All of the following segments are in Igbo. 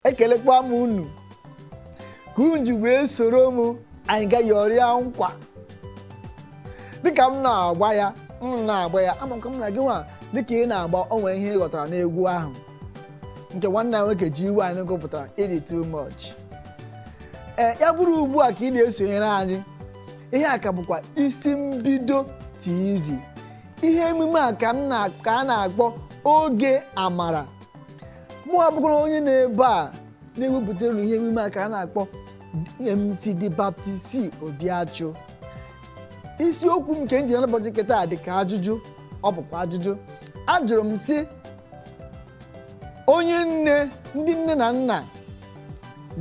ekelekwa m unu ka unu ji wee soro m anyị gaa yọrịa nkwa dịka m na-agba ya m na-agba ya amakwa m na gị nwa dịka ị na-agba o nwe ihe ị ghọtara n'egwu ahụ nke nwanne nwoke ji iwe anyị gụpụtara ị dị too much ee ya bụrụ ugbu a ka ị na-esonyere anyị ihe a ka bụkwa isi mbido tv ihe emume a ka a na-akpọ oge amara mụwa bụkwara onye nọ ebe a na-ewepụtara unu ihe emume a ka a na-akpọ MC The Baptist C Obiachụ isiokwu m nke m ji n'ụbọchị nke taa dị ka ajụjụ ọ bụkwa ajụjụ ajụrụ m sị onye nne ndị nne na nna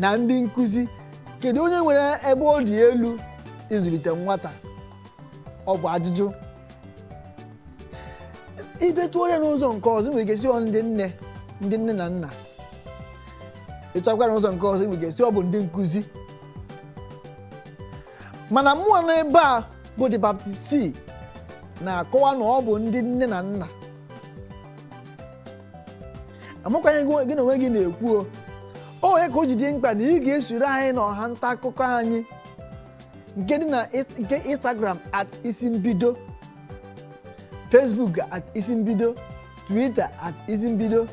na ndị nkụzi kedu onye nwere ebe ọ dị elu ịzụlite nwata ọ bụ ajụjụ ị bịa tụọ ya n'ụzọ nke ọzọ i nwere ike sị ọ ndị nne na nna ị chọkwaa n'ụzọ nke ọzọ i nwere ike sị ọ bụ ndị nkụzi mana mụwa nọ ebe a bụ the baptist c na-akọwa na ọ bụ ndị nne na nna amakwaghị m ihe gị na onwe gị na-ekwu o ọ ya ka o ji dị mkpa na ị ga-esoro anyị na ọha nta akụkọ anyị nke dị na is- nke instagram at isi mbido facebook at isi mbido twitter at isi mbido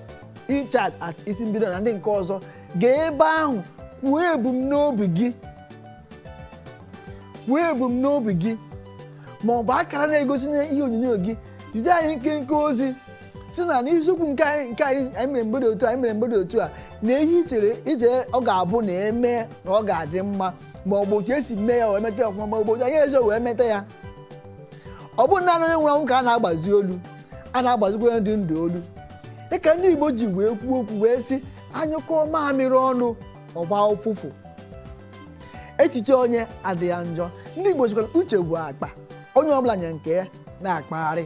echat at isi mbido na ndị nke ọzọ gaa ebe ahụ kwuo ebumnobi gị kwuo ebumnobi gị ma ọ bụ akara na-egosi na ihe onyonyo gị zite anyị nkenke ozi sị na n'isiokwu nke anyị mere mgbede otu a na ihe i chere ọ ga-abụ na e mee na ọ ga-adị mma ma ọ bụ otu e si mee ya wee meta ya ọfụma ma ọ bụ otu anyị esighị wee meta ya ọ bụghị naanị onye nwụrụ anwụ ka a na-agbazi olu a na-agbazikwa onye dị ndụ olu dịka ndị Igbo ji wee kwuo okwu wee sị anyụkọọ mamịrị ọnụ ọ gbaa ụfụfụ echiche onye adịghị ya njọ ndị Igbo sịkwa na uche bụ akpa onye ọbụla nya nke ya na-akpagharị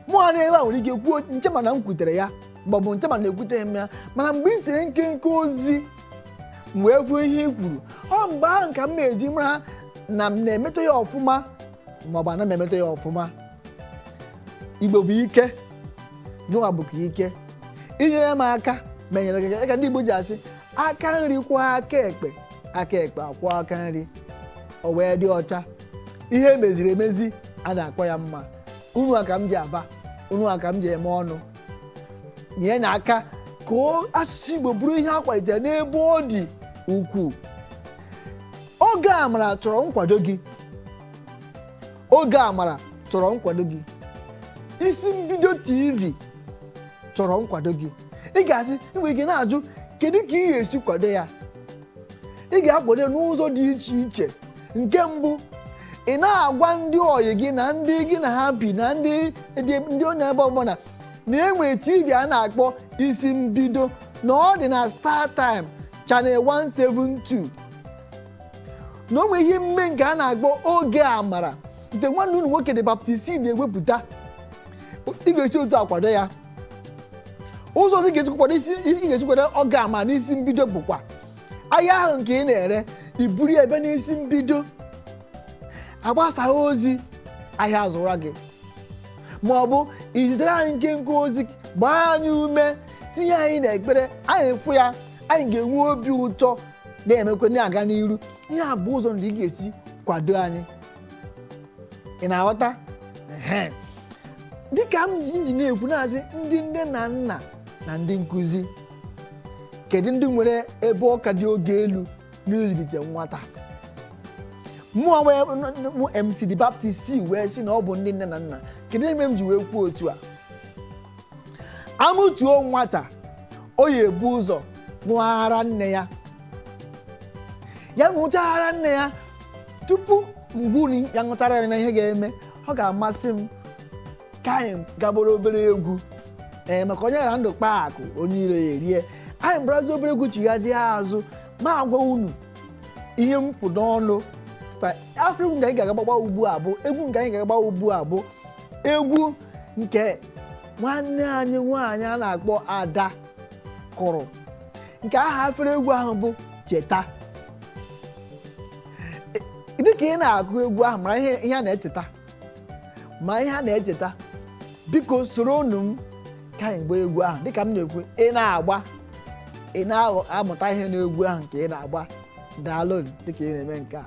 mụwa nọ ebe a nwere ike kwuo nche m na m kwutere ya maọbụ nche m na ekwuteghị m ya mana mgbe i zitere nkenke ozi m wee hụ ihe i kwuru ọ mgbe ahụ ka m na-eji mara na m na-emeta ya ọfụma maọbụ anaghị m emeta ya ọfụma igbo bụ ike gịnwa bụkwa ike i nyere m aka m enyere gị aka ka ndị igbo ji asị aka nri kwụọ aka ekpe aka ekpe akwụọ aka nri o wee dị ọcha ihe e meziri emezi a na-akpọ ya mma unu a ka m ji aba unu a ka m ji eme ọnụ nye na aka ka o- asụsụ igbo bụrụ ihe a kwalitere n'ebe ọ dị ukwuu oge amara chọrọ nkwado gị oge amara chọrọ nkwado gị isi mbido tv chọrọ nkwado gị ị ga-asị ị nwere ike na-ajụ kedu ka ị ga-esi kwado ya ị ga-akwado n'ụzọ dị iche iche nke mbụ ị na-agwa ndị ọyị gị na ndị gị na ha bi na ndị ndị nọ n'ebe ọbụla na e nwere tv a na-akpọ isi mbido na ọ dị na star time channel 172 na o nwere ihe mme nke a na-akpọ oge amara nke nwanne unu nwoke de baptist na-ewepụta ị ga-esi otu a kwado ya ụzọ ọzọ ị ga-esi kwado isi ị ga-esi kwado oge amara na isi mbido bụkwa ahịa ahụ nke ị na-ere iburu ya ebe n'isi mbido a gbasaa ozi ahịa azụra gị ma ọ bụ izitere anyị nkenke ozi gbaa anyị ume tinye anyị n'ekpere anyị fụ ya anyị ga-enwe obi ụtọ na-emekwa na-aga n'iru ihe a bụ ụzọ ndị ị ga-esi kwado anyị ị na-aghọta ehe dịka m ji m ji na-ekwu na-asị ndị nne na nna na ndị nkụzi kedu ndị nwere ebe ọ ka dị oke elu n'ịzụlite nwata mụọ wee mụ mc de baptist si wee sị na ọ bụ ndị nne na nna kedu ihe mere m ji wee kwuo otu a a mụtuo nwata ọ ya-ebu ụzọ ṅụọ ara nne ya ya ṅụchaa ara nne ya tupu m gwa unu ya ṅụchaa ara nne ya ihe ga-eme ọ ga-amasị m ka anyị gaa gbara obere egwu ee maka onye hara ndụ kpaa akụ onye iro ya erie anyị gbarazie obere egwu chighazie azụ ma agwa unu ihe m kpụ n'ọnụ afere egwu nke anyị ga-aga agba ugbu a bụ egwu nke anyị ga-aga agba ugbu a bụ egwu nke nwanne anyị nwaanyị a na-akpọ ada kụrụ nke aha afere egwu ahụ bụ cheta dị ka ị na-agụ egwu ahụ mara ihe ihe a na-echeta ma ihe a na-echeta biko soronụ m ka anyị gbaa egwu ahụ dịka m na-ekwu ị na-agba ị na-amụta ihe n'egwu ahụ nke ị na-agba daalụ dịka ị na-eme nke a